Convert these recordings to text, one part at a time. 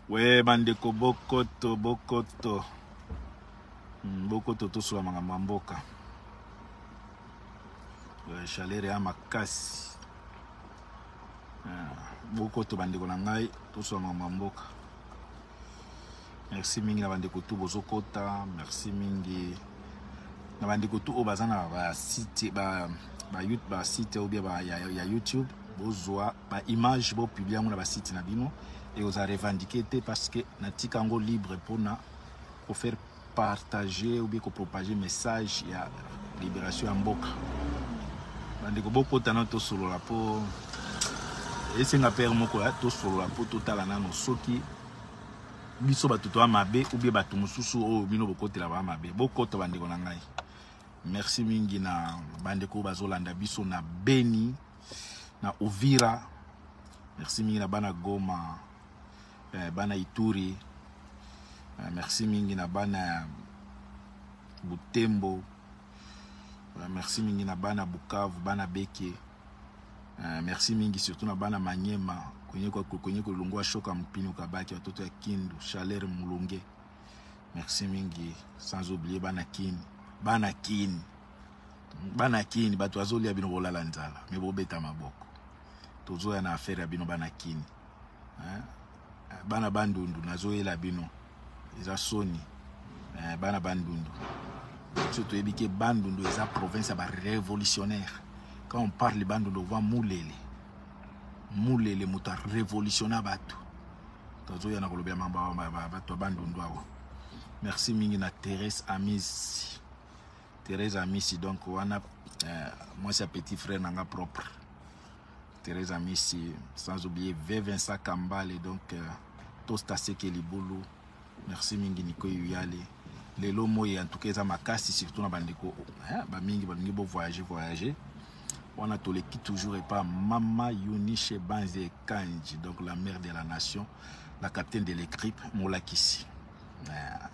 we bandeko bokoto bokoto hmm, bokoto tosola makambo ya mboka chaleur ya makasi ah, bokoto bandeko na ngai tosola makambo ya mboka Merci mingi na bandeko tout bozo kota. Merci mingi na bandeko tout oyo baza na ba site ba ba YouTube ba site ou bien ba ya, ya YouTube bozwa ba image bo publier yango na ba site na bino et oza revendiquer te parce que na tika yango libre pona ko faire partager ou bien ko propager message ya libération ya mboka. Bandeko bokota na tosolola po esenga pere moko ya tosolola po totala nano soki biso bato toa mabe ubie bato mosusu oyo bino bokotela baa mabe bokota bandeko na ngai merci mingi na bandeko oyo bazolanda biso na beni na uvira merci mingi na bana goma eh, bana ituri eh, merci mingi na bana butembo eh, merci mingi na bana bukavu bana beke Uh, merci mingi surtout na bana Manyema kwenye kwa kwenye kulungua shoka mpino kabaki watoto ya Kindu chaleur mulunge merci mingi sans oublier bana Kin bana Kin bana Kin bato azolia bino bolala nzala me bobeta maboko tozoya na affaire ya bino bana Kin hein? Eh, bana bandundu nazoyela bino eza soni eh, bana bandundu biso toyebi ke bandundu eza province ya barévolutionnaire quand on parle bandundu ova mulele mulele moto arévolutionna bato tozoya na kolobela bato ya bandundu awa merci mingi na therese amisi therese amisi donc wana eh, mwasi ya petit frère na nga propre Teresa Misi, sans oublier V. Vincent Kambale, donc euh, Tosta Seke Libulu, merci mingi Nico Yuyale. Lelo moi en tout cas eza makasi surtout na bandeko hein, ba mingi balingi bo voyager voyager. Wana toleki toujours epa Mama Yunishe Banze Kanji, donc la mère de la nation, la capitaine de l'équipe Molakisi. Euh,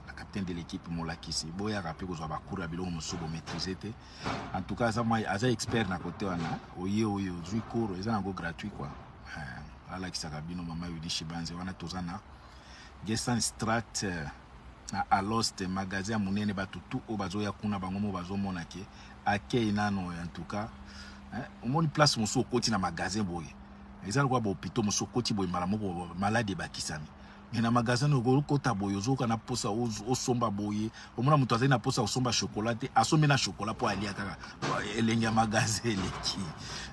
la capitaine de l'équipe Molakisi. Boya rappeler kozwa ba cours ya biloko mosusu bo maîtriser te. en tout cas aza mwa aza expert na kote wana oye oyo ozwi cours eza nango gratuit quoi eh, alakisaka bino mama yudishi banze wana toza na gestan strat eh, na alost magasin ya monene bato tu oyo bazoya kuna bango mo bazomona ke akei nano en tout cas eh, omoni place mosusu okoti na magasin boye eza lokola bahopitau mosusu okoti boye mbala moko maladi ebakisami Mais na magasin na okoki kota boye ozoka na posa osomba boye omona moto azali na posa kosomba chocolat te asombi na chocolat mpo alia kaka elengi ya magasin eleki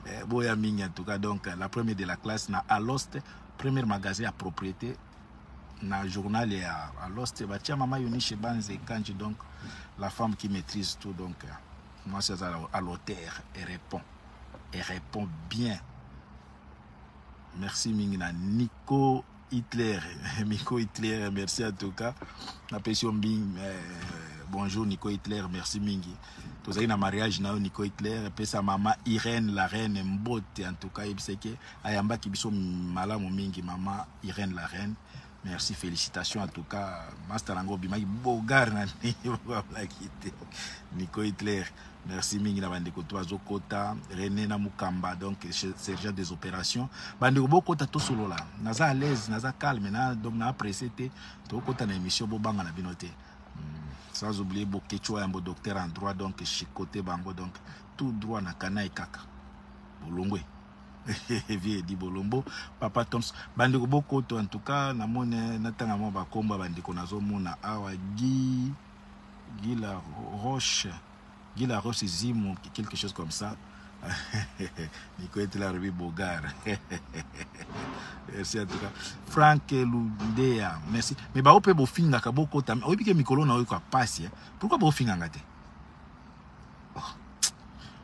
eh, boya mingi en tout cas donc la première de la classe na alost première magasin ya propriété na journal ya alost batia mama yonishe banze kanji donc la femme qui maîtrise tout donc mwasi aza à l'auteur et répond et répond bien merci mingi na nico Hitler, Miko Hitler, merci à tout cas. Napesi yo mbing, euh, bonjour Nico Hitler, merci mingi. Tozali na mariage na yo Nico Hitler, pesa mama Irène la reine mbote en tout cas yebiseke ayambaki biso malamu mingi mama Irène la reine. Merci, félicitations en tout cas. Master Nango Bimaki, Bogar, Nico Hitler. Merci mingi na bandeko to bazo kota René na Mukamba donc sergent des opérations bandeko bo kota to solola naza à l'aise naza calme na donc na pressé te to kota na émission bo banga na bino te hmm, sans oublier Bokechua yambo docteur en droit donc chicoté bango donc tout droit na kana et kaka bolongwe vie di bolombo papa toms bandeko bokoto en tout cas namoni natanga mwa bakombo ya bandeko nazomona awa gi Guy la roche Guy la roche zimu quelque chose comme ça Nico est là Ruby Bogar merci en tout cas Frank Lundea merci mais ba ope bofinga ka boko tam oyebi ke mikolo na oyo ka passe hein. pourquoi bofinga ngate oh.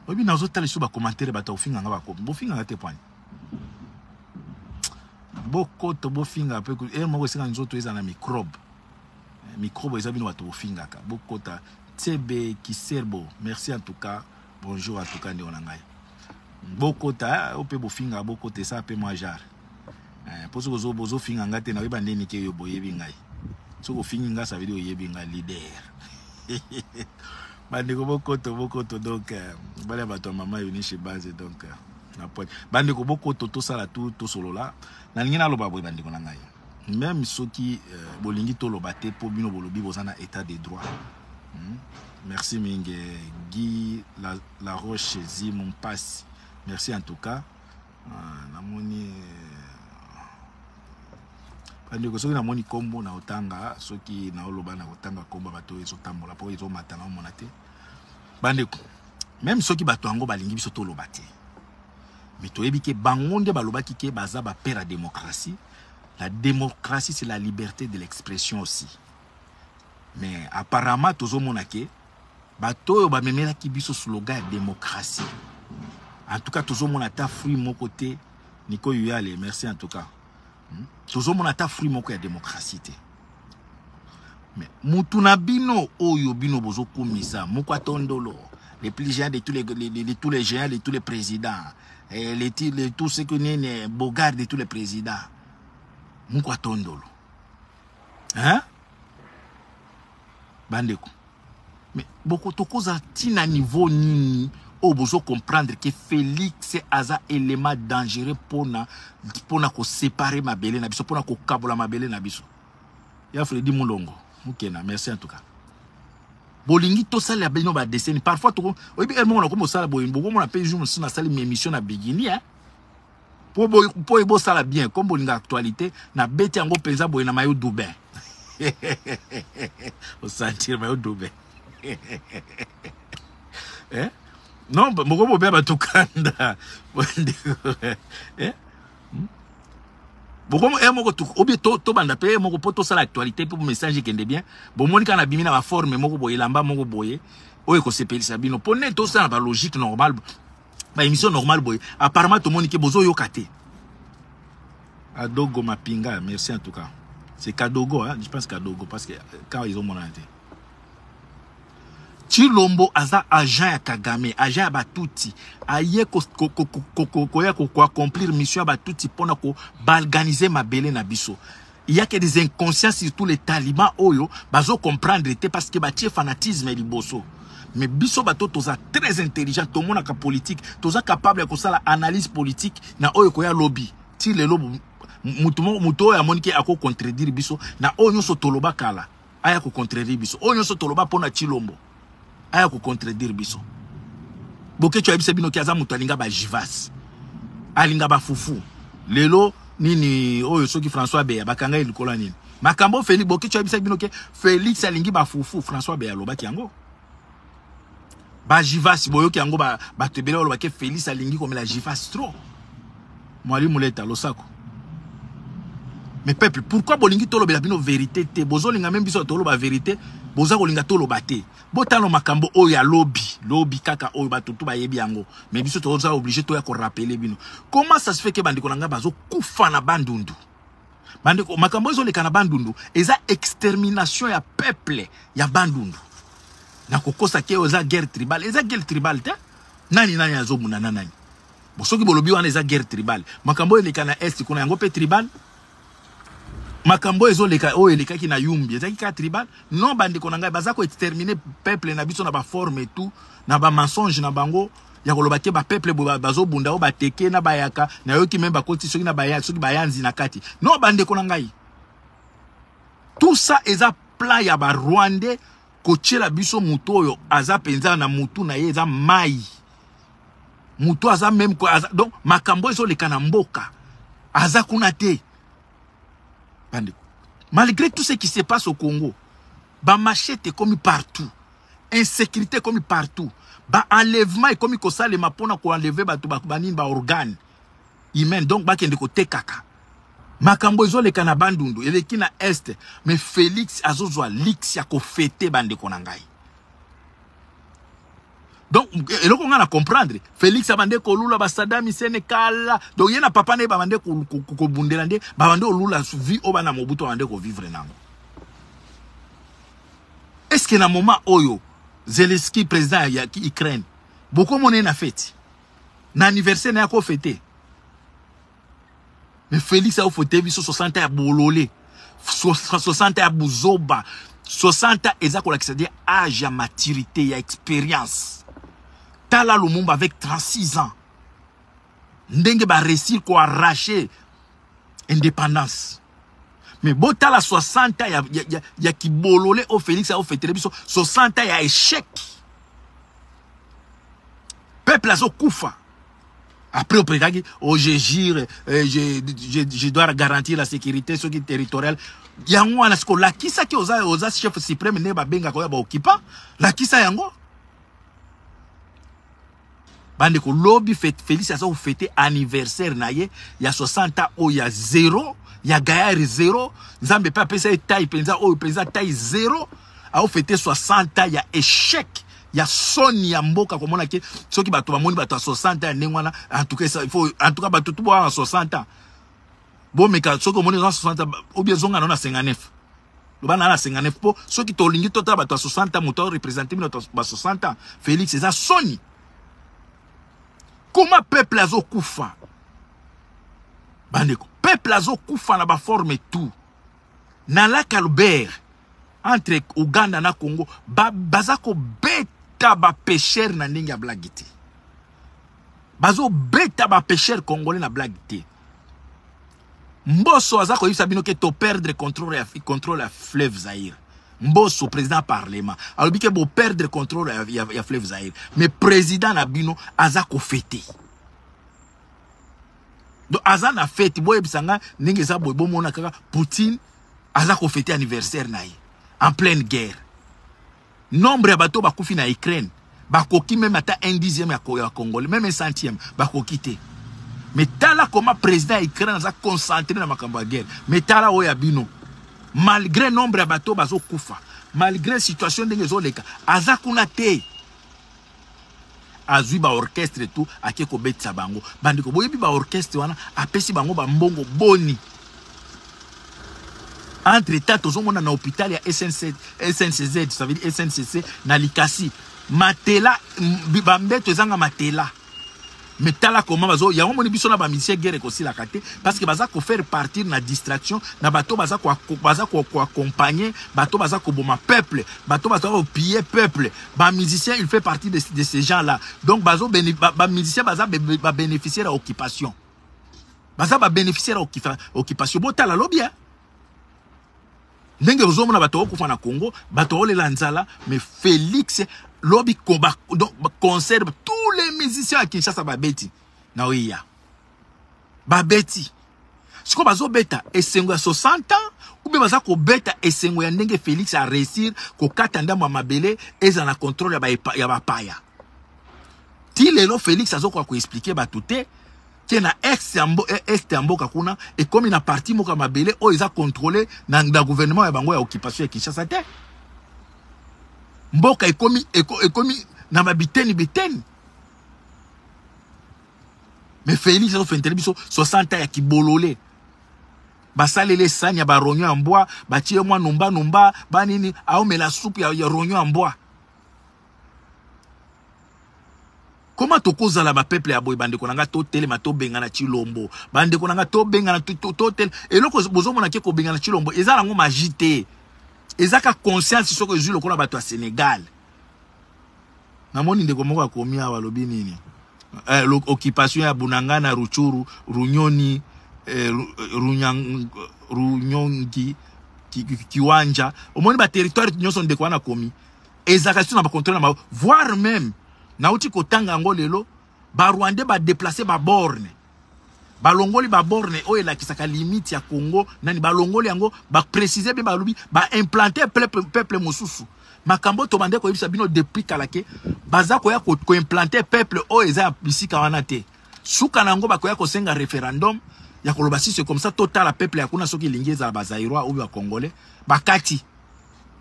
oyebi nazo tala sur ba commentaire ba to finga nga ba ko bofinga ngate point bokoto bofinga mpe eloko moko esika nzoto eza na microbe Microbe eza bino batu bofingaka bokota CB kiserbo merci en tout cas bonjour en tout cas ndeko na ngai bokota eh, ope bofinga bokota esa pe mwa jar eh, mpo soki ozo bozofinga ngai te nakoyeba nde nike yo boyebi ngai soki ofingi ngai ça veut dire oyebi ngai leader bandeko bokoto bokoto donc euh, bale ya bato ya mama eunice base donc euh, na pointe bandeko bokoto tosala tu tosolola nalingi naloba boye bandeko na ngai Meme soki euh, bolingi toloba te po bino bolobi boza na etat de droit. Hmm? Merci mingi Guy la, la Roche Zimu Mpasi. Merci en tout cas. Ah, namoni bandeko soki namoni nkombo na otanga soki naoloba na kotanga nkombo ya bato oyo ezotambola mpo ezomata na omona te bandeko meme soki bato yango balingi biso toloba te Mais toyebi ke bango nde balobaki ke baza ba père ya democratie. La democratie c'est la liberte de l'expression aussi. Mais apparemment tozomona ke bato oyo bamemelaki biso slogan ya democratie. En tout cas tozomona ata fruit moko te. Nico Yuyale, merci en tout cas. Hmm? Tozomona ata fruit moko ya demokrasi te. Mais mutu na bino oyo bino bozokumisa moko atondolo les plus géants de tous les, les, les, les, tous les géants de tous les présidents eh, les, les, tous ceux que nene bogard de tous les présidents moko atondolo hein Bandeko, mais boko tokoza ti na niveau nini oyo bozo comprendre que Felix aza element dangereux pona pona ko separer mabele na biso pona ko kabola mabele na biso. Ya Freddy Mulongo, mukena, merci en tout cas. Bolingi tosalela bino ba deseni parfois toko oyebi heure moko nakomi kosala boye bokomona mpe jour mosusu nasali ma émission na bigini hein po bo po bo sala bien comme bolinga actualité na beti yango penza boye na mayo doubin au sentir mayo doubin eh non moko bobe bato kanda eh hmm? bokomo e eh, moko obi tobanda mpe e eh, moko mpo tosala actualité mpo message ekende bien bomoni kaka na bimi na baforme moko boye elamba moko boye oyo ekosepelisa bino mpo nde tosala na balogique normale ba émission normale boye apparemment tomoni ke bozo yoka te adogo mapinga merci en tout cas c'est kadogo hein? je pense kadogo parce que euh, quand ils ont mon te chilombo aza agent ya kagame agent ya batuti aye koya koaccomplir mission ya batuti mpona kobalganize mabele na biso Il y a que des inconscients surtout les talibans oyo bazo comprendre te parce que batie fanatisme liboso. Mais biso bato toza très intelligent tomonaka politique toza capable ya kosala analyse politique na oyo koya lobby ti lelo mutu moko mutu oyo amoni ke ako contredire biso na oyo nyonso toloba kala aya ko contredire biso oyo nyonso toloba mpo na Tshilombo aya ko contredire biso Boketshu ayebisa bino ki aza moto alinga ba jivas alinga ba fufu lelo nini oyo soki François Beya bakanga ye likolo nini makambo Felix Boketshu ayebisa bino ke Felix alingi ba fufu François Beya alobaki yango ba jivas boyoki yango bato ebele baloba ke Felix alingi komela jivas trop Mwali Muleta losako. Mais peuple, pourquoi bolingi tolobela bino verite te? Bozolinga meme biso toloba verite, boza kolinga toloba te. Botala makambo oyo ya lobi, lobi kaka oyo bato tout bayebi yango. Mais biso toza obligé toya ko rappeler bino. Comment ça se fait que bandeko na ngai bazo kufa na Bandundu? Bandeko, makambo ezo leka na Bandundu, eza extermination ya peuple ya Bandundu. Na kokosa ke oza guerre tribale, eza guerre tribale te. Nani nani azobunda na nani? Soki bolobi wana eza guerre tribale, makambo eleka na est kuna yango pe tribale? makambo ezo leka oyo elekaki na Yumbi ezaki ka tribal non bandeko na ngai baza ko exterminer peuple na biso na ba forme tout na ba mensonge na bango ya koloba te ba peuple bazo bunda oyo bateke na bayaka na yoki meme bakoti soki na baya soki bayanzi na kati non bandeko na ngai tout ça eza plat ya ba rwandais kotiela biso moto oyo aza mpenza na motu na ye eza mai mutu aza meme quoi aza, donc makambo ezo leka na mboka aza kuna te bandeko malgré tout ce qui se passe au Congo ba machete comme partout insécurité comme partout ba enlèvement ekomi kosalema mpona koenleve bato banini baorgane humaine donc bakende kotekaka makambo ezoleka na bandundu eleki na este me félix azozwa lix ya kofete bandeko na ngai donc eloko nga na comprendre Felix abande kolula ba Saddam Hussein kala donc ye na papa na ye babande kobundela nde babande olula vie oyo bana Mobutu babande kovivre nango est ce que na moment oyo Zelensky président ya Ukraine bokomona ye na feti na anniversaire na ye akofete Mais Felix au fauteuil biso 60 ya bolole. 60 ya buzoba. 60 eza ko lakisa dire âge ya maturité ya expérience. Tala Lumumba avec 36 ans. Ndenge ba réussir ko arracher indépendance. Mais bo tala 60 ya ya, ya, ya kibolole au Felix au fauteuil biso 60 ya échec. Peuple azo kufa. Après, au prédagi, oh, je gire, euh, je, je, je dois garantir la sécurité, ce qui est territorial. Yango, on a ce qu'on l'a qui ça qui osa, osa chef suprême, ne ba benga koya ba occupant. La qui ça yango? Bande ko lobby fait Félix Asa ou fêter anniversaire na ye, ya 60 ans, oh, ya zéro, ya gaillard zéro, Nzambe pa pesa taille penza, oh, penza taille zéro. ao fete 60 ans ya échec ya soni ya mboka komona ke soki bato bamoni bato ya 60 ans ya ndenge wana en tout cas il faut en tout cas bato tout boa na 60 ans bomeka soki omoni oza 60 ans ou bien zonga na 59 loba na 59 po soki tolingi totala bato ya 60 ans moto représenter bino ba 60 ans Félix eza soni comment peuple azokufa bandeko peuple azokufa na baforme tout Na lac Albert entre Ouganda na Congo ba baza ko beta ba pecheurs na ndenge ya blague te. Bazo beta ba pecheurs congolais na blague te. Mboso aza koyebisa bino ke to perdre contrôle ya contrôle ya fleuve Zaire. Mboso président parlement alobi ke bo perdre contrôle ya, ya, ya fleuve Zaire. Mais président na bino aza ko fêter. donc aza na fete boyebisa nga ndenge eza boye bomona kaka poutine aza kofete anniversaire na ye en pleine guerre nombre ya bato bakufi na ukraine bakoki meme ata un dixième ya congolais meme un centième bakoki te me tala koma président ya ukraine aza concentré na makambo ya guerre me tala oyo ya bino malgré nombre ya bato bazokufa malgré situation ndenge ezoleka aza kuna te azwi ba orchestre tout ake kobetisa bango bandeko boyebi ba orchestre wana apesi bango bambongo boni entre temps tozomona na hôpital ya SNC, sncz ça veut dire sncc na likasi matela bambeto ezanga matela Mais tala comment bazo yango moni biso na ba musiciens guerre ekosilaka te parce que baza ko faire partir na distraction na bato baza ko baza ko ko accompagner bato baza ko boma peuple bato baza ko piller peuple ba musiciens il fait partie de, de ces gens là donc bazo ba, ba musiciens baza ba bénéficier ya occupation baza ba bénéficier ya occupation botala lobi hein Ndenge ozo mona bato okufa na Congo, bato olela nzala, mais Felix lobi koba donc concert tous les musiciens à Kinshasa babeti na oya. Babeti. Siko bazo beta esengo ya 60 ans ou bien baza ko beta esengo ya ndenge Felix a réussir ko kata ndambo ya mabele eza na contrôle ya ba ya ba paya. Ti lelo Felix azo ko expliquer bato te ke na est ya, mbo, eh, est ya mboka kuna ekomi na parti moko ya mabele oyo eza controle na, na gouvernement ya bango ya occupation ya kinshasa te mboka ekomi, eko, ekomi na babiteni biteni me félix azofentele biso 60 ans ya kibolole basaleli esani ya baronyo ya mbwa batie mwa numba numba banini aomela supu ya, ya ronyo ya mbwa Comment tokozala ba peuple ya boye bandeko na nga totelema tobengana Tshilombo bandeko na nga tobengana totel eloko bozomona ke kobengana Tshilombo eza nango magie te eza ka conscience soko ezwi lokola bato ya Senegal namoni ndeko moko akomi awa alobi nini eh, occupation ya Bunangana Ruchuru Runyoni eh, Runyang, Runyongi ki, ki, Kiwanja omoni ba territoire nyonso ndeko wana akomi Ezalaka surtout na ba controle na bango, voire meme nauti kotanga yango lelo, ba Rwandais ba deplacer ba bornes balongoli ba borne oyo elakisaka limite ya Congo nani balongoli yango ba préciser bien balobi ba implanter peuple peuple mosusu makambo tobande koyebisa bino depuis kala ke baza koya ko, ko implanter peuple oyo eza ya bisika wana te suka na yango bakoya kosenga référendum ya koloba sisi comme ça totala peuple ya kuna soki elingi ezala bazairois oyo bakongole bakati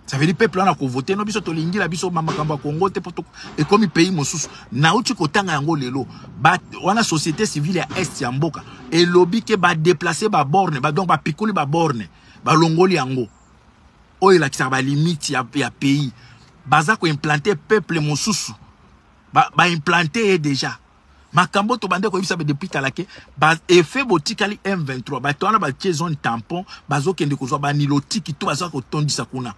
Ça veut dire peuple wana ko voter no biso tolingi la biso makambo ya Congo te poto ekomi pays mosusu. Nauti kotanga yango lelo. Ba wana société civile ya est ya mboka elobi ke ba déplacer ba borne ba donc ba pikuli ba borne ba longoli yango. Oyo elakisaka ba limite ya, ya pays. Baza ko implanter peuple mosusu. Ba, ba implanter ye déjà. makambo tobande koyebisa be depuis kala ke ba effet botikali M23 bato wana batie zone tampon bazokende kozwa banilotiki to baza kotondisa kuna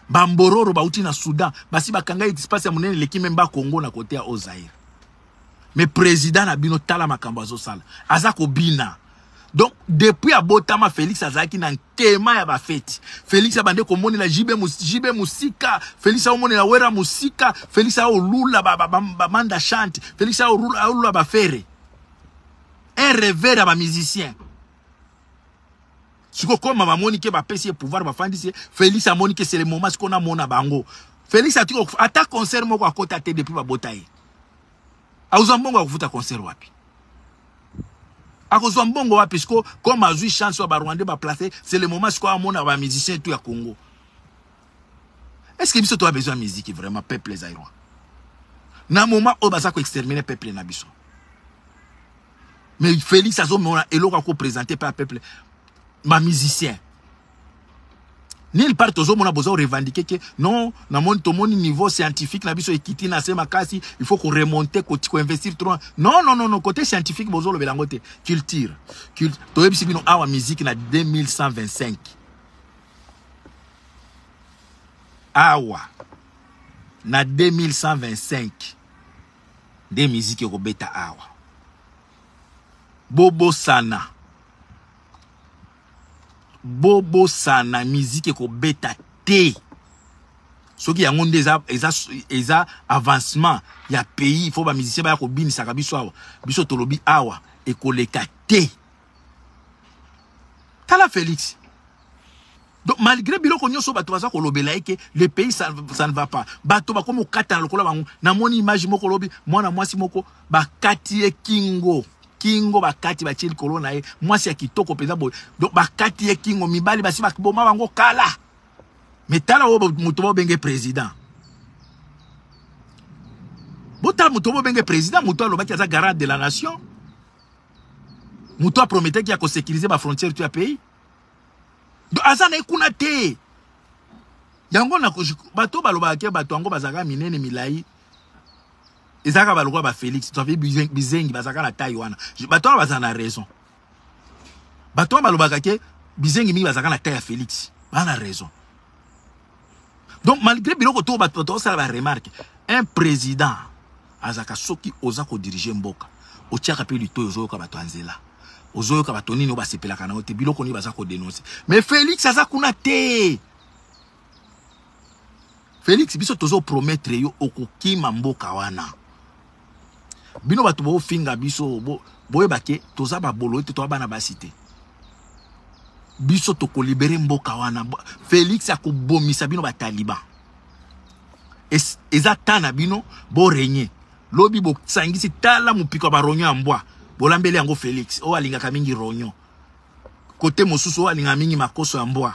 bambororo bauti na Soudan basi bakanga espace ya monene eleki memba Congo na kote ya Ozaire me president na bino tala makambo azosala aza kobina donc depuis abotama félix azalaki na nkema ya bafeti félix abande komonela jb, JB mosika félix aomonela wera mosika félix aolula bamanda ba, ba, chante félix aolula bafere un revere ya bamusicien sikoyo koma bamoni ke bapesi ye pouvoir bafandisi ye félix amoni ke c'est le moment sikoyo namona bango félix atiki ata concert moko akota te depuis babota ye akozwa mbongo ya kofuta concert wapi akozwa mbongo wapi siko comme azwi chance oyo barwandais baplace c'est le moment sikoyo amona bamusicien tout ya congo est ce que biso toa besoin musique vraiment peuple zairois na moment oyo baza koextermine peuple na biso mais félix azomona eloko akopresente mpe ya peuple bamusicien Nil part tozomona bozo revendiquer que non na moni tomoni niveau scientifique na biso ekiti na se makasi il faut ko remonter ko ko investir trop non non non non côté scientifique bozo lobela ngo te culture Cult... toyebisi bino awa musique na 2125 awa na 2125 nde musique ekobeta awa bobosana bobosana miziki ekobeta te soki yango nde eza, eza, eza avancement ya pays il faut bamusicien baya kobinisaka biso awa biso tolobi awa ekoleka te tala félix donc malgré biloko nyonso bato baza kolobela ye ke le pays ça, ça ne va pas bato bakomi kokatana lokola bango namoni image moko lobi mwana mwasi moko bakati ye kingo kingo bakati batie likolo na ye mwasi ya kitoko mpenza boye donc bakati ye kingo mibali basi bakiboma bango kala me tala oyo moto bobenge président botala moto bobenge président moto alobaki aza garant de la nation moto aprometaki ya kosécurise bafrontière to ya pays donc aza na ye kuna te yango bato balobaka ke bato yango bazalaka minene milai ezalaka balokola ba Felix to avi bizengi bazalaka na taille wana bato wana bazala na raison bato wana balobaka ke bizengi mingi bazalaka na taille ya Felix baa na raison donc malgré biloko to bato bato osala ba remarque un président azalaka soki oza kodirige mboka otiaka mpe litoyi ozoyoka bato ya nzela ozoyoka bato nini oyo basepelaka na yo te biloko nini baza kodenonse mais Felix aza kuna te Felix biso tozo promettre yo okokima mboka wana bino bato bofinga biso bo, boyeba ke toza babolo ete toa bana basi te biso tokolibere mboka wana felix akobomisa bino bataliban es, eza ta na bino borenye lobi bosangisi tala mopiko ya baronyo ya mbwa bolambeli yango felix oyo alingaka mingi ronyo kote mosusu oyo alingaka mingi makoso ya mbwa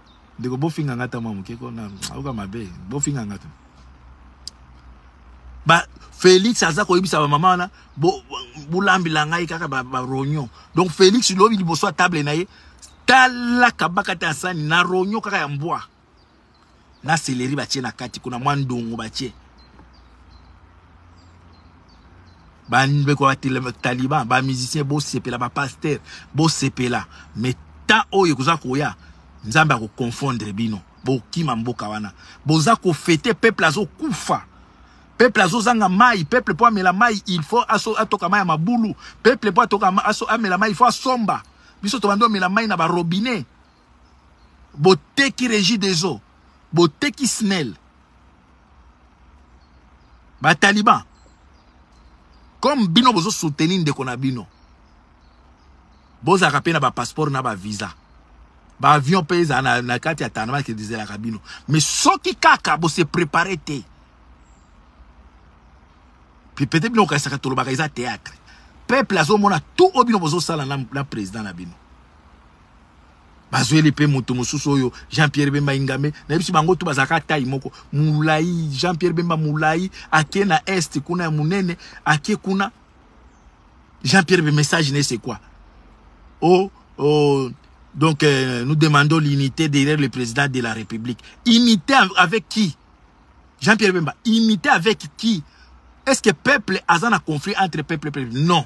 ndeko bofinga nga ata mwa moke ko nayoka mabe bofinga nga tu ba félix aza koyebisa bamama wana bolambela ngai kaka baronyon ba donc félix lobi liboso ya table na ye tala kabaka te asani na ronyon kaka ya mbwa na seleri batie na kati kuna mwa ndongo batie bandeko ya taliban bamusicien bosepela bapaster bosepela mais temps oyo ekoza koya nzambe akoconfondre bino bokima mboka wana boza kofete peuple azokufa peuple azozanga mai peuple mpo amela mai il faut atoka mai ya mabulu peuple mpo amela mai il faut asomba biso tobandi omela mai na barobinet boteki regi des eaux boteki snel bataliban comme bino bozo soutenir ndeko na bino bozalaka mpe na bapasseport na bavisa baavion mpe ezala na, na kati ya tanama ezelaka bino mais soki kaka bose prépare te peut-être bino okanisaka tolobaka eza théâtre peuple azomona tout oyo bino bozosala na, na président na bino bazweli mpe moto mosusu oyo jean pierre bemba ingame nayebisi bango to bazalaka tai moko molai jean pierre bemba molai ake na est kuna ya monene ake kuna jean pierre be message ne c'est quoi oh, oh donc euh, nous demandons l'unité derrière le président de la république unité avec qui jean pierre bemba unité avec qui est ce que peuple aza na conflit entre peuple peuple non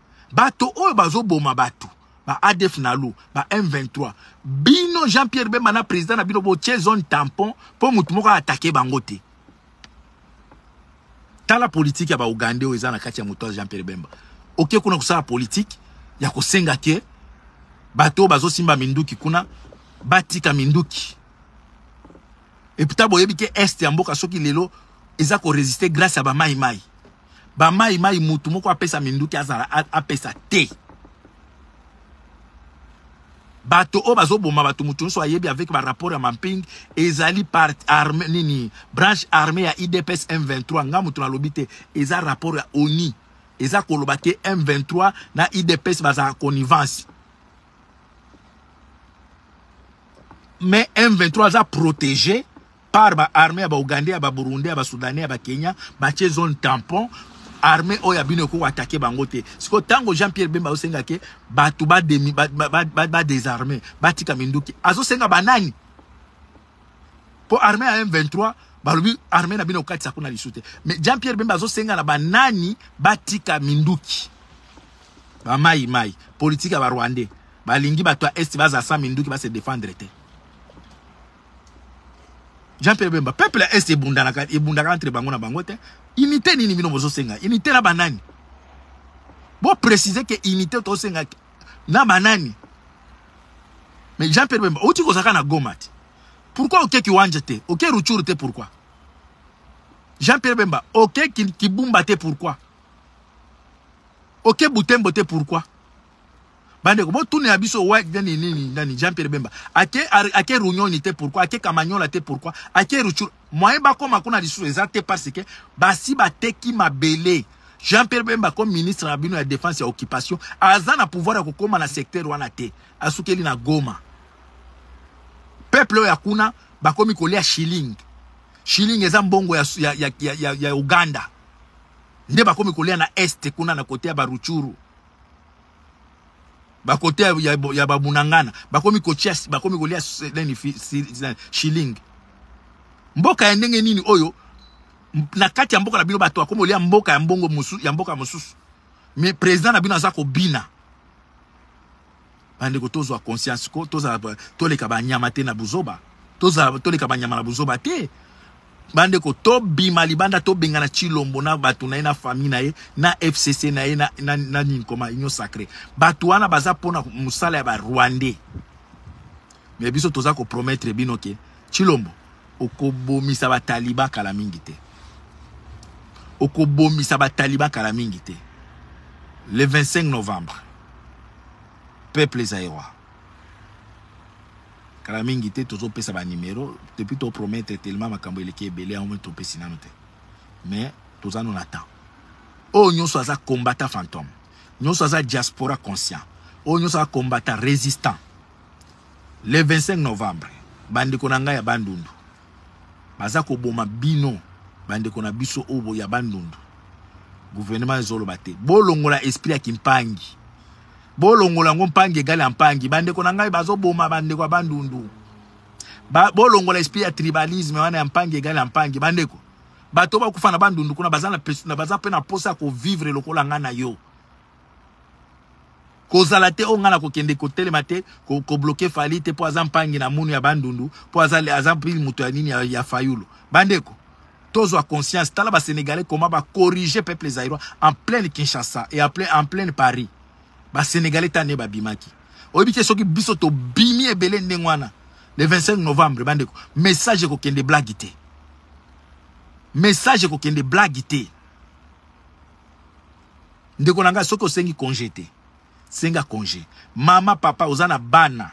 bato oyo bazoboma bato ba adf nalu ba m23 bino jean pierre bemba na président na bino botie zone tampon mpo motu moko aatake bango te tala politike ya baugande oyo eza na kati ya moto ya jean pierre bemba oke kuna kosala politike ya kosenga ke bato oyo bazosimba minduki kuna batika minduki eputa boyebi ke este ya mboka soki lelo eza koresiste grâce ya bamaimai Ba mai mai mutu moko apesa minduki azala apesa te. Bato oyo bazoboma bato mutu nyonso ayebi avec ba rapport ya mamping ezali par arme nini branche armée ya IDPS M23 nga mutu nalobi te eza rapport ya ONI eza koloba te M23 na IDPS bazalaka connivence mais M23 aza protégé par ba armee ya ba ougandais ya ba burundais ya ba soudanais ya ba kenya batie zone tampon armée oyo ya bino ekoki atake bango te sikoyo ntango jean pierre bemba azosenga ke bato bademi badesarme batika minduki azosenga banani mpo armée ya m23 balobi armée na bino okatisa kuna lisu te mais jean pierre bemba azosenga na banani batika minduki bamayi mayi politike ya barwandais balingi bato ya est baza sa minduki base defendre te Jean Pierre Bemba peuple ya est ebundaka ebundaka entre bango na bango te unité nini bino bozo senga unité na banani bo préciser que unité to senga na banani mais Jean Pierre Bemba oti kozaka na Goma te pourquoi oke kiwanja te oke Rutshuru te pourquoi Jean Pierre Bemba oke kibumba te pourquoi oke Butembo te pourquoi bandeko botunela biso white nani nini nani jean pierre bemba ake ake runyoni te pourquoi ake kamanyola te pourquoi ake ruchuru moyen bakoma kuna lisusu eza te parce que basi bateki mabele jean pierre bemba comme ministre na bino ya défense ya occupation aza na pouvoir ya kokoma na secteur wana te asukeli na goma peuple oyo ya kuna bakomi kolia shilling shilling eza mbongo ya, ya, ya, ya, ya, ya uganda nde bakomi kolia na este kuna na kote ya baruchuru bakote ya, ya, ya babunangana bakomi kotia bakomi kolia nini shilling mboka ya ndenge nini oyo na kati ya mboka na bino bato bakomi kolia mboka ya mbongo musu, ya mboka mosusu mais président na bino aza kobina Ba ndeko tozwa conscience ko tozala toleka ba nyama te na buzoba tozala toleka ba nyama na buzoba te ba ndeko tobima libanda tobengana Chilombo na bato na ye na famille na ye na FCC na ye na, na, na nini koma union sacrée bato wana baza mpona mosala ya ba rwandais mais biso toza ko promettre bino ke Chilombo Okobomisa ba taliban kala mingi te. Okobomisa ba taliban kala mingi te. Le 25 novembre, peuple zaïrois. Kala mingi te tozo pesa ba numero depuis to promettre tellement makambo eleki ebele yango to pesi nanu te. Mais toza no na temps. Oyo nyonso aza combattant fantôme. Nyonso aza diaspora conscient. Oyo nyonso aza combattant résistant. Le 25 novembre, bandeko na ngai ya Bandundu baza koboma bino, bandeko na biso oyo ya Bandundu. Gouvernement ezoloba te, bolongola esprit ya kimpangi, bolongola yango mpangi egali ya mpangi. Bandeko na ngai bazoboma bandeko ya Bandundu, ba, bolongola esprit ya tribalisme wana ya mpangi egali ya mpangi. Bandeko bato bakufa na Bandundu kuna baza, na, baza mpe na mposa ya kovivre lokola ngai na yo. kozala te oyo ngai nakokende kotelema te kobloke ko fali te mpo aza mpangi na munu ya bandundu mpo aza, aza pili moto ya nini ya, ya fayulu bandeko tozwa conscience tala basenegalais koma bacorrige peuple zairois en pleine kinshasa et en pleine, en pleine paris basenegalais ta nde babimaki oyebi te soki biso tobimi ebele ndenge wana le 25 novembre bandeko message ekokende blague te message ekokende blague te Ndeko na ngai soki osengi conge te senga conge mama papa oza na bana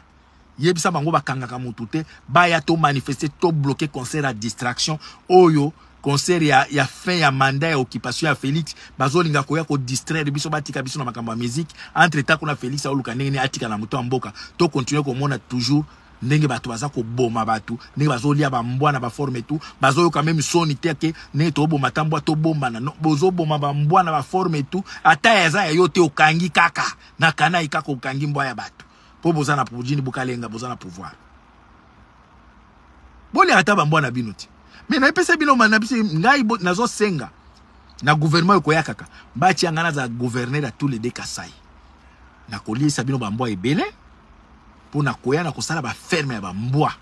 yebisa bango bakangaka mutu te baya to manifeste to bloquer concert ya distraction oyo concert ya, ya fin ya mandat ya occupation ya Felix bazolinga koya ko distraire biso batika biso na makambo ya musique entre temps kuna Felix aoluka ndenge nini atika na moto ya mboka to continuer komona toujours ndenge batu baza koboma batu ndenge bazolia ba mbwa na ba forme tout bazoyoka meme soni te ke ndenge toboma ta mbwa tobombana no bozoboma ba mbwa na ba forme tout ata eza ya yo te okangi kaka na kanai kaka okangi mbwa ya batu po boza na pujini bukalenga boza na pouvoir bolia ata ba mbwa na bino te me napesa bino na biso ngai nazosenga na gouvernement ekoya kaka batia ngai naza gouverneur ya tous les deux kasai nakoliesa bino bambwa ebele Mpo na koya na kosala ba ferme ya ba mbwa,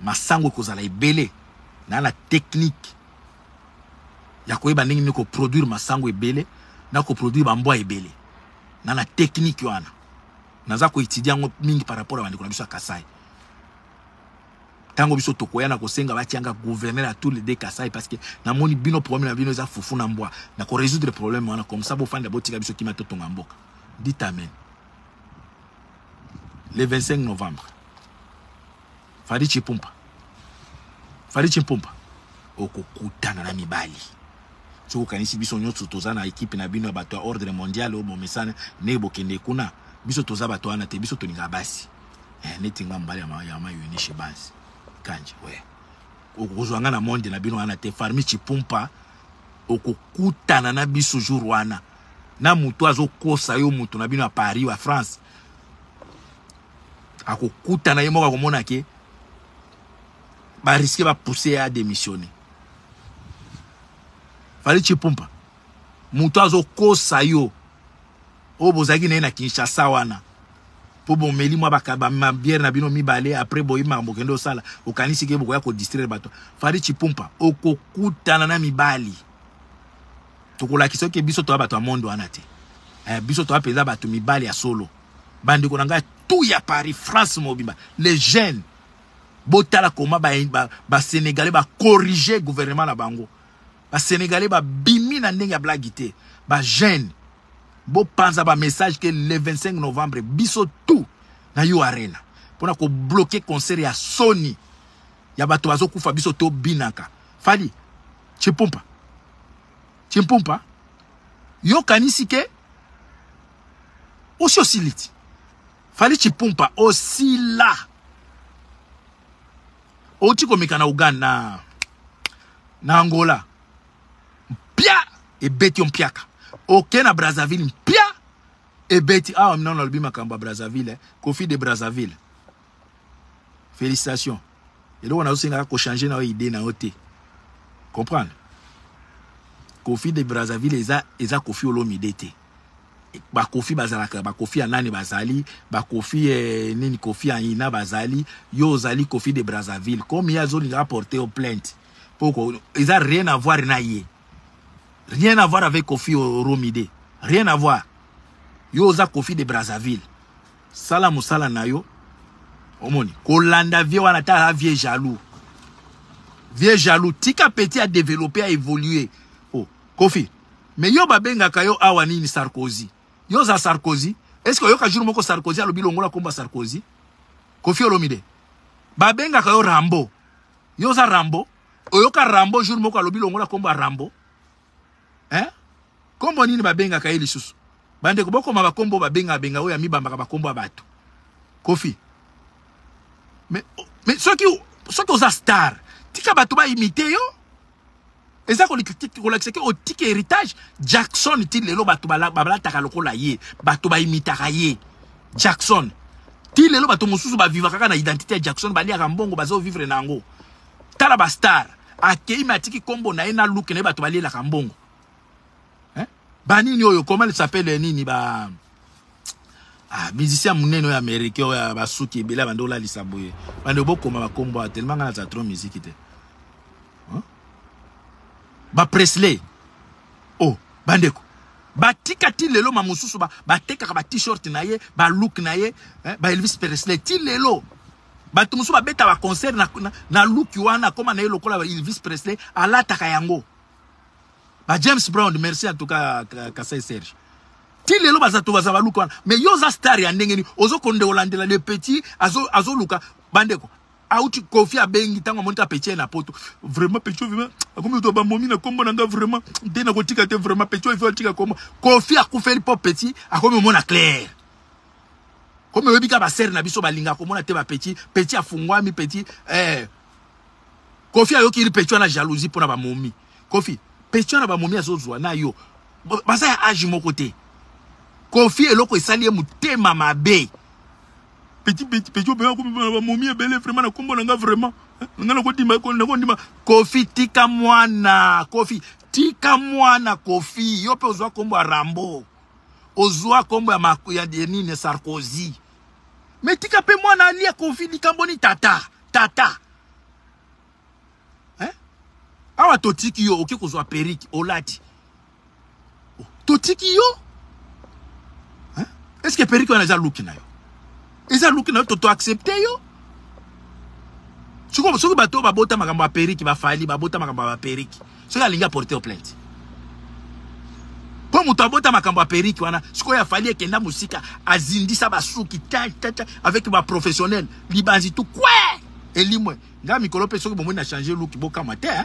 masangu ekozala ebele na na technique ya koyeba ndenge nini ko produire masangu ebele na ko produire ba mbwa ebele na na technique wana naza ko etudier yango mingi par rapport ya bandeko na biso ya Kasai. Tango biso tokoya na kosenga batianga gouverneur ya tous les deux Kasai parce que namoni bino problème na bino eza fufu na mbwa na ko résoudre problème wana comme ça bofanda botika biso kimia totonga mboka. Dites amen. le 25 novembre fadi chipumpa fadi chimpumpa okokutana na mibali soki okanisi biso nyonso toza na ekipe na bino ya bato ya ordre mondial oyo bomesana ndenge bokende kuna biso toza bato wana te biso tolingaka basi eh, neti nga mobali ya mayunishe basi kanji we okozwa nga na monde na bino wana te farmi chipumpa okokutana na biso jour wana na mutu azo kosa yo mutu na bino ya Paris wa France akokutana ye moko akomona ke ba risque ba pousser ya démissionner fali chipumpa mutu azo kosa yo oyo bozalaki na ye na Kinshasa wana mpo bomeli mwa babiere na bino mibale apres boyebi makambo okende osala okanisi ke bokoya kodistraire bato fari chipumpa okokutana na mibali tokolakisa oke biso toya bato ya monde wana te eh, biso toya mpenza bato mibali ya solo bandeko na ngai tout ya paris france mobimba les jeunes botala koma basénégalais ba, ba bacorrige gouvernement na bango basénégalais babimi na ndenge ya blagi te bajeune bopanza bamessage ke le 25 novembre biso tout na yo arena mpo na kobloke concert ya soni ya bato bazokufa biso tobinaka fali chimpumpa chimpumpa yo kanisi ke osi osili ti fali chimpumpa osila outi komeka na uganda na angola mpia ebeti yo mpiaka oke na brazzaville mpia ebeti awa ah, minano alobi makambo ya brazzaville eh. kofi de brazzaville félicitation eloko nazosengaka kochange na yo idée na yo te comprendre kofi de brazzaville eza, eza kofi olomide te bakofi bazalaka bakofi ya nani bazali bakofi eh, nini kofi ya ina bazali yo ozali kofi de brazzaville comme ye azolinga aporte yo plainte mpo eza rien avoir na ye rien avoir avec kofi oromide rien avoir yo oza kofi de brazzaville Sala musala na yo. Omoni, kolanda vie wana ta a vie jaloux. Vie jaloux, tika petit a développer, a évoluer. Oh, Kofi, mais yo babengaka yo awa nini Sarkozy? Yo za Sarkozy? Est-ce que yoka jour moko Sarkozy alobi longola komba Sarkozy? Kofi Olomide. Babengaka yo Rambo. Yo za Rambo? Oyoka Rambo jour moko alobi longola komba Rambo? eh? kombo nini babengaka ye lisusu bandeko bokoma bakombo babenga benga oyo amibambaka bakombo ya bato kofi mais, mais soki soki oza star tika bato baimite yo eza kolakisa ke otika héritage jackson ti lelo bato balataka lokola ye bato baimitaka ye jackson ti lelo bato mosusu bavivaka kaka na identité ya jackson baliaka mbongo bazovivre na yango tala ba star akeyi me atiki kombo na ye na luke na ye bato balielaka mbongo eh? banini oyo comment il s'appelle nini ba ah, musicien monene oyo américain oyo basuki ebele abandi olalisa boye bande bokoma bakombo awa telema ngai naza trop miziki te eh? ba presley o oh, bandeko batika ti lelo ma mosusu batekaka ba, ba t-shirt na ye ba look na ye eh, ba elvis presley ti lelo Batu musu babeta ba concert na, na, na look wana akoma na ye lokola Elvis Presley alataka yango. Ba James Brown merci en tout cas Kasai Serge. Ti lelo baza to baza ba look wana. Mais yo za star ya ndenge ni ozo konde olandela le petit azo azo luka bandeko. Auti Kofi abengi tango amoni ka petit na poto. Vraiment petit vraiment akomi to ba momi na kombo na nga vraiment nde na kotika te vraiment petit il faut atika kombo. Kofi akufeli po petit akomi mona clair. Comme oyebi ka ba sœur na biso balinga komona te ba petit, petit afungwami petit eh Kofi ayoki iri petit wana jalousie pona ba momi. Kofi, petit wana ba momi azozwa na yo. Baza ya âge moko te. Kofi eloko esali ye motema mabe. Petit petit petit obea ko ba momi ebele vraiment na kombo na nga vraiment. Eh, nga na ko dima ko na ko dima Kofi tika mwana. Kofi tika mwana Kofi. Yo pe ozwa kombo ya Rambo. ozua kombo ya maku ya denine sarkozy me tika mpe mwana alia kofi likambo ni tata tata eh? awa totiki yo oke kozwa perike olati totiki yo eh? eske perike wana eza luki na yo eza luki na yo toto accepte yo sikoyo soki bato oyo babota makambo ya periki bafali babota makambo ya baperiki soki alingi aporte yo plainte mpo moto abota makambo ya periki wana sikoyo afali ekenda mosika azindisa basuki tatata avec baprofessionnel libanzi tu kwe elimwe ngai mikolo mpe soki bomoni na change luki bokamwa te eh?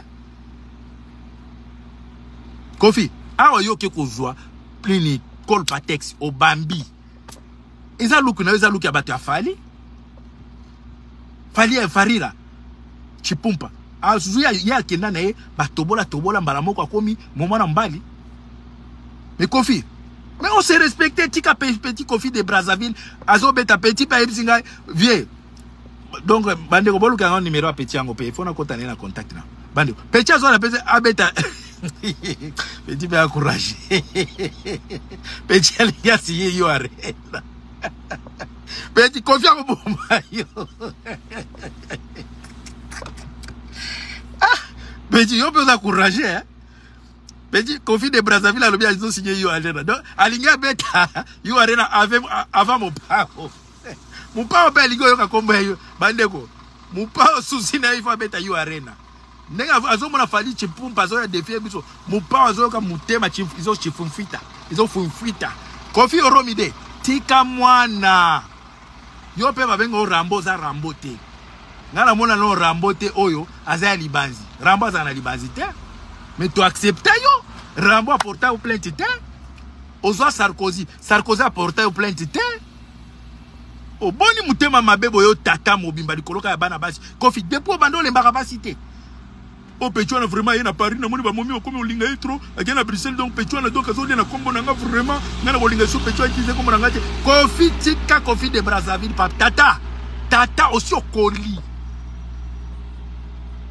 kofi awa yo oke kozwa nini colpatex obambi eza luki na yo eza luki ya bato ya fali fali ya farira chipumpa azwi ah, ye akenda na ye batobola tobola mbala moko akomi moma na mbali mais kofi mais on se respecte tika petit kofi de brazzaville azobeta petit mpe ayebisi ngai vieux donc bandeko boluka yango numero ya petit yango mpe ifo nakota naye na contact na bandeko petit azwa na pesi abeta petit mpe akourage petit alingi asiye yo arena petit kofi akoboma yo ah, petit yo mpe oza courage eh? petit kofi de brazzaville alobi azosinye yo arena donc alingi abeta yo arena avant mopango Eh, Mopao pe alingi oyoka kombo ya yo. Bandeko, Mopao susi na ye faut abeta yo arena. Ndenge azomona Fally Chipumpa azoya defie biso. Mopao azoyoka motema izo chifunfita. Izo funfita. Kofi Oromide, tika mwana. Yo pe babenga o Rambo za Rambo te. Nga na mona no Rambo te oyo aza ya libanzi. Rambo aza na libanzi te. Mais tu accepta yo. Rambo aporta yo plainte te. Ozwa Sarkozy. Sarkozy aporta yo plainte te. oboni motema mabe boyo tata mobimba likolo kaka ya bana basi kofi depuis obanda olembaka basi te o oh, pechuana vraiment aye na paris namoni bamomi okomi olinga ye trop akei na bruxelles donc pechuana donc azolia na nkombo na nga vraiment ngai na kolinga so pechua utilisé nkombo na nga te kofi tika kofi de brazzaville pa tata tata osi okoli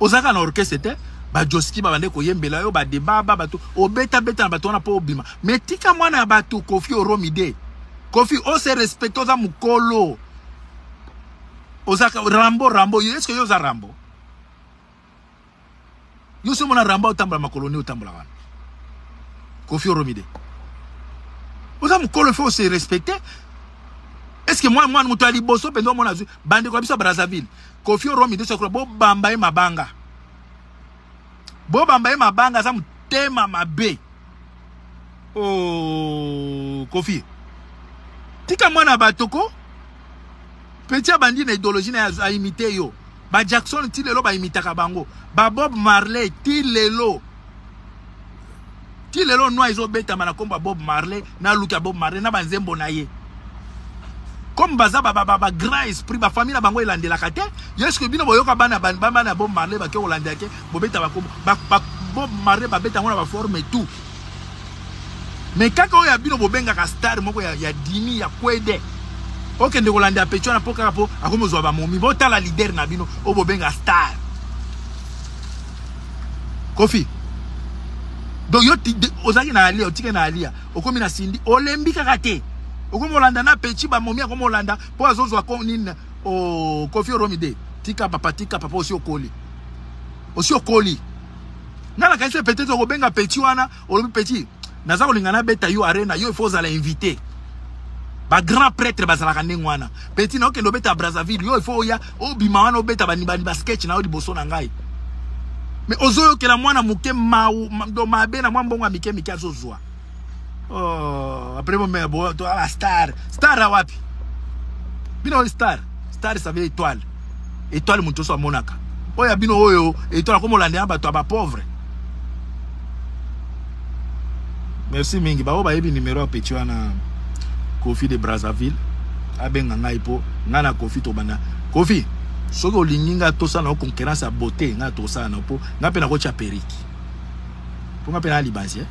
ozalaka na orchestre te bajoski babande koyembela yo badebaba bato obetabeta na bato wana mpo obima me tika mwana ya bato kofi oromide kofi ose respecte oza mokolo oza rambo rambo yo eske yo oza rambo yo soki omona rambo otambola makolo nde otambola wana kofi oromide oza mokolo fo ose respecte eske mwana mwana moto ya liboso mpenza omona azwi bandeko ya biso ya brazzaville Kofi Olomide Sakura bobamba ye mabanga. Bobamba ye mabanga aza motema mabe. Oh Kofi. Tika mwana bato ko petit abandi na idéologie na a imiter yo. Ba Jackson ti lelo ba imitaka bango. Ba Bob Marley ti lelo. ti lelo nwa ezobetama na kombo ya bob marley na luki ya bob marley na banzembo na ye comme baza bagrand esprit bafamille na bango elandelaka te yeske bino boyoka bana bana ya bob marley bake kolandela te bobeta bakombo bob marley babeta yango na baforme tout me kaka oyo ya bino bobengaka star moko ya, ya dimi ya kwede okende kolandela pecho wana mpo kaka mpo akomozwa bamomi botala lider na bino oyo bobenga star Kofi. Donc yo ozaki na alia otike na alia okomi na sindi olembi kaka te okomi olanda na petit ba momi akomi olanda po azozwa ko nini o oh, Kofi Olomide tika papa tika papa osi okoli osi okoli nga nakanisi peut-être okobenga petit wana olobi petit naza kolinga nabeta yo arena yo ifo ozala invité bagrand prêtre bazalaka ndenge wana petit na okende obeta brazzaville yo ifo oya obima wana obeta banibani basketch na yo liboso na ngai me ozoyokela mwana moke mabe na mwa mbongo ya mike mike azozwa oh, apres bomea boala star star awapi bino oyo star star save étoile étoile moto oso amonaka oyo ya bino oyo étoile akomolandela bato ya bapauvre merci mingi baoyo bayebi numero ya petit wana kofi de brazzaville abenga ngai mpo ngai na kofi tobanda kofi soki olingi ngai tosala na concurrence ya beauté ngai tosala na mpo ngai mpe nakotya periki mpo ngai mpe naa libanzi eh?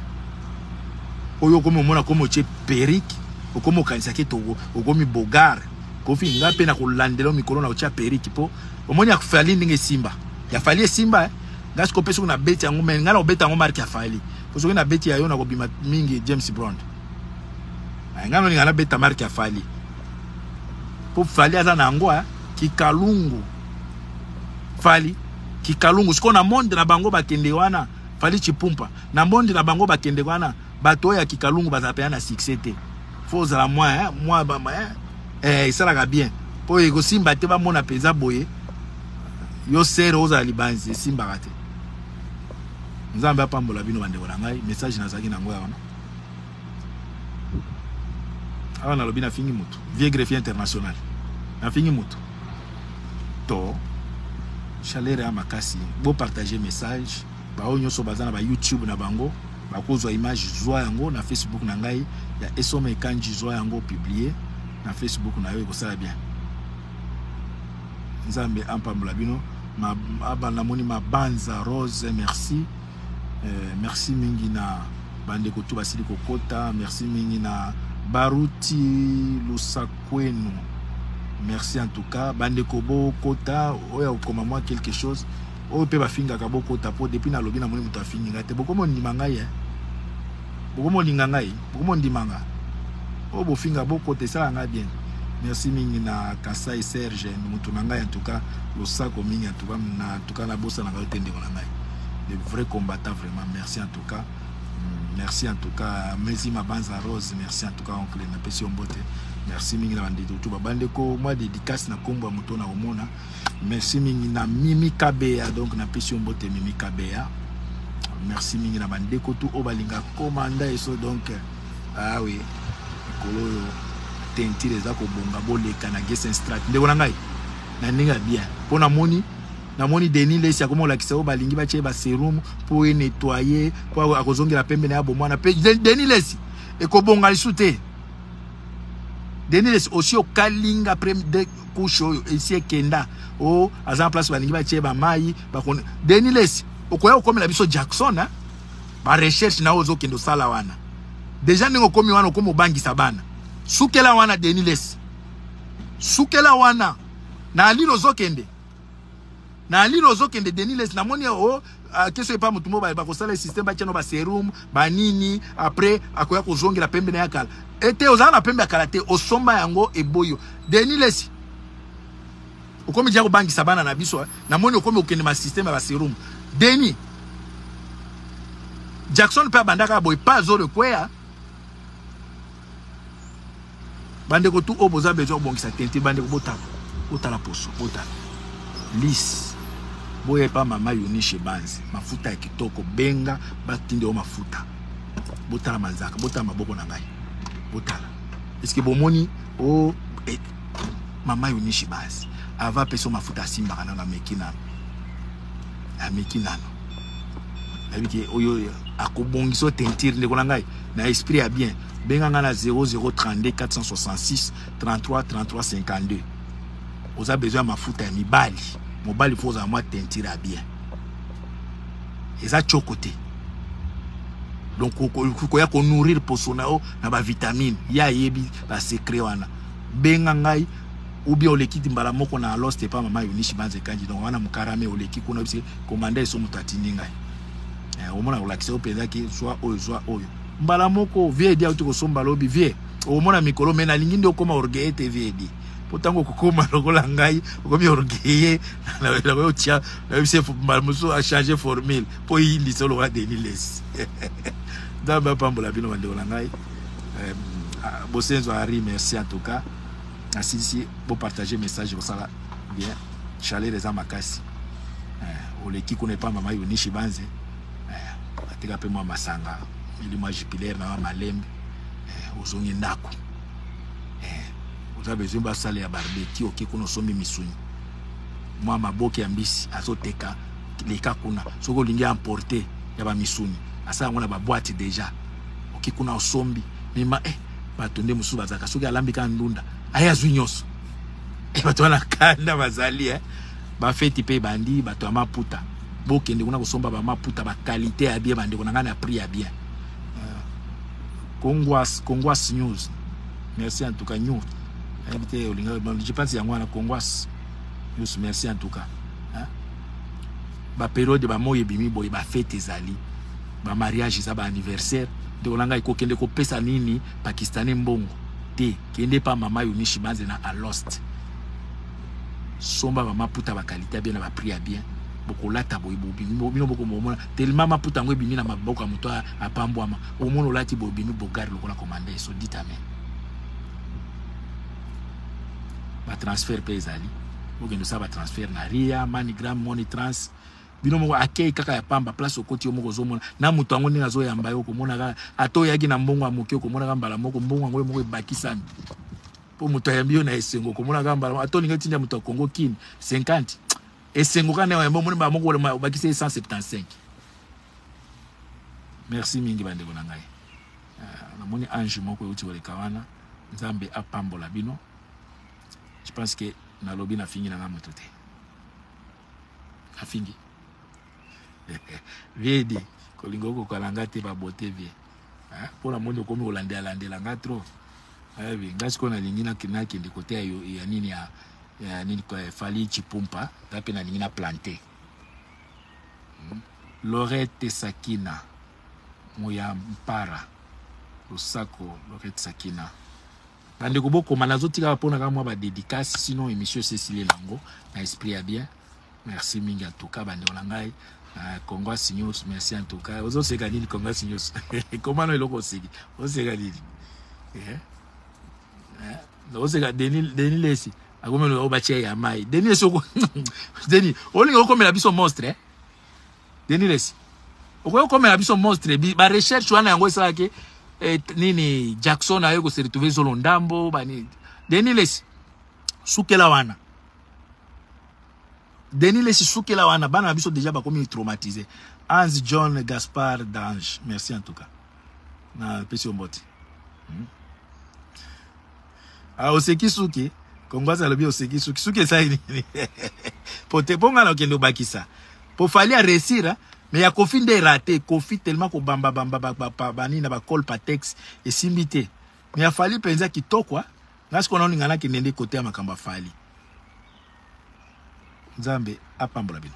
oyo okomi omona komi otye periki okomi okanisaki to okomi bogar kofi ngai mpe nakolandela mikolo na otya periki mpo omoni ya fali ndenge esimba ya fali esimba eh? nga siko pesi kuna beti yango mais nga na obeta yango marque ya Fally po soki na beti ya yo na kobima mingi James Brown eh, nga no ninga na beta marque ya Fally po Fally aza na yango eh, kikalungu Fally kikalungu siko na monde na bango bakende wana Fally Chipumpa na monde na bango bakende wana bato oyo ya kikalungu bazala pena na succès te faut ozala mwa eh, mwa bama eh, eh, esalaka bien mpo ekosimba te bamona mpenza boye yo sere ozala libanzi esimbaka te nzambe apambola bino bandeko na ngai message nazalaki na yango ya wana awa nalobi nafingi motu vieux greffier international nafingi motu to chaleur ya makasi bopartage message Baoyo nyoso baza na ba YouTube na bango bakozwa image zwa yango na Facebook na ngai ya Esome Kandji zwa yango publier na Facebook na yo ekosala bien. Nzambe ampambola bino. Ma, aba namoni mabanza Rose merci. Euh, merci mingi na bandeko tu basili kokota merci mingi na baruti lusakwenu merci en tout cas bandeko bokota oyo akokoma mwa quelque chose Oyo pe ba fingaka bo kota po depuis na lobi na moni mutu afingi nga te boko mo ndima ngai hein boko mo linga ngai boko mo ndima nga oyo bo finga bo kota esala ngai bien merci mingi na Kasai Serge mutu na ngai en tout cas losako mingi en tout cas na en tout cas na bosa na ngai te ndeko na ngai le vrai combattant vraiment merci en tout cas merci en tout cas mezi mabanza rose merci en tout cas oncle na pesi ombote merci mingi na bandeko tout ba bandeko moi dédicace na kombo ya moto na omona merci mingi na mimi kabeya donc napesi yo mbote mimi kabeya merci mingi na bandeko tu oyo balinga komanda eso donc awe ah mikolo oyo tentire eza kobonga boleka na gesen strat ndeko na ngai na ndenge ya bien mpo namoni namoni deni lesi akoma kolakisa oyo balingi batye baserum mpo enetoye mpo akozongela pembe na ya bomwana mpe deni lesi ekobonga lisu te deni lesi osi okalinga couche oyo esi ekenda o oh, aza na place balingi batie bamai bakoni deni lesi okoya kokomela biso jackson hein? barecherche na oyo ozokende osala wana deja ndenge okomi wana okomi obangisa bana sukela wana deni lesi sukela wana na alilo ozokende na lino ozokende denis les namoni o oh, ah, keso epa motu mo bakosala système batiano baserum banini après akoya kozongela pembe na ya kala ete eh, ozala na pembe ya kala te osomba yango eboyo denis les okomi dia kobangisa bana na biso eh. namoni okomi okende ma système ya baserum denis jackson mpe abandaka boye pa azolo ekweya bandeko tu oyo boza besoin kobongisa teinture bandeko botala botala poso botala lise boya epa mama yunishe banzi mafuta ya kitoko benga batinde yo mafuta botala manzaka botala maboko na ngai botala eske bomoni o oh, eh, mama yunishe banzi ava apesa mafuta asimbaka nano ameki nano ameki nano nayebi te oyo akobongisa teinture ndeko na ngai Na esprit ya bien, benga nga na 0032 466 33 33 52. Oza besoin ya mafuta ya mibali. Mobali faut ozala mwa teinture ya bien. Eza choko te. Donc koya ko nourrir poso na yo na ba vitamines. Ya ayebi ba secret wana. Benga ngai ou bien oleki mbala moko na lost epa mama yonishi banze kanji donc wana mukarame oleki kuna bise komanda eso mutatini ngai eh, omona kolakisa yo mpenza ke zwa oyo zwa oyo mbala moko vie edi auti kosomba lobi vie okomona mikolo me nalingi nde okóma orgueille te vie edi mpo ntango okokóma lokola ngai okomi orgueille nakoki otya nayebisi mbala mosusu achange formule mpo eyindisa olokola denis lesi nzambe apambola bino bandeko na ngai eh, ah, bosenzo ari merci en tout cas asilisi bopartage message kosala bien chaleur eza makasi eh, oleki kuna epa mama yonishi banze eh, ateka mpe mwa masanga ili mwa jupilaire na mwa malembe eh, ozongi ndako eh, oza besoin basale ya barbeki oke kuna osombi misuni mwa maboke ya mbisi azoteka leka kuna soki olingi emporte ya bamisuni asala yango na babwate deja oke kuna osombi mima eh, bato nde mosusu bazalaka soki alambi kaka ndunda aye azwi nyonso bato wana kanda bazali eh? bafeti mpe ebandi bato ya maputa bokende kuna kosomba bamaputa bakalite ya bien bandeko na ngai na prix ya bien euh, congoas congoas news merci en tout cas new nayebi te olinga je pense yango wana congoas news merci en tout cas baperiode bamoi ebimi boye bafete ezali bamariage eza baanniversaire ndeko na ngai kokende kopesa nini pakistanais mbongo te Kende pa mama Eunice Banze na Alost. Somba mama puta ba qualité ya bien na ba prix ya bien. Bokolata boye bobimi bino boko momona tellement maputa yango ebimi na maboko ya moto apambwama omona olati boye obimi bogari lokola komanda eso dit amen batransfert mpe ezali bokende osala batransfert na ria manigram monitrans bino moko akei kaka ya pamba place okoti yo moko ozomona na moto yango ndenge azoyamba yo okomona kaka ata oyaki na mbongo ya moke okomona kaka mbala moko mbongo yango yo moko ebakisami mpo moto ayambi yo na esengo okomona kaka mbala ata olingi otinda moto ya congo kini 50 esengo kaka ndenge oyambi omoni mbala moko obakisi ye 175 merci mingi bandeko na ngai ah, namoni ange moko euti koleka wana nzambe apambola bino je pense que nalobi nafingi na ngai moto te afingi vie di kolinga okokana nga te babote vie mpo na moni okomi kolandelalandela nga trop ayebi eh, nga sikoyo nalingi nakende kote ya nini ya nini fali chipumpa nga mpe nalingi na plante hmm. lorete sakina moya mpara losako lorete sakina Ba ndeko bo koma nazo tika ba pona ka mwa ba dedicace sinon emission esi esili nango na esprit ya bien merci mingi en tout cas ba ndeko na ngai uh, Congo Signus merci en tout cas ozo seka nini Congo Signus koma no eloko oseki oseka nini yeah. yeah. oseka Denis Denis Lesi akomelo ba tia ya mai Denis esoko Denis olinga okomela biso monstre eh? Denis Lessi. Okoki komela biso monstre bi ba recherche wana yango esala ke eh, nini Jackson ayo ko se retrouver zolo ndambo ba nini. Denis Lessi. Sukela wana. Denis Lessi sukela wana bana na biso déjà bakomi traumatisé. Hans John Gaspard Dange. Merci en tout cas. Na pesi omboti. Hmm. Ah, oseki suki kongwaza alobi oseki suki suki esali nini po te mpo ngai nakende obakisa mpo fali aresira me ya kofi nde erate kofi tellement kobambabamba banini na bacole patex esimbi te me ya fali mpenza kitoko ah. ngai sikoyo naoninga nakende nde kote ya makambo ya fali nzambe apambola bino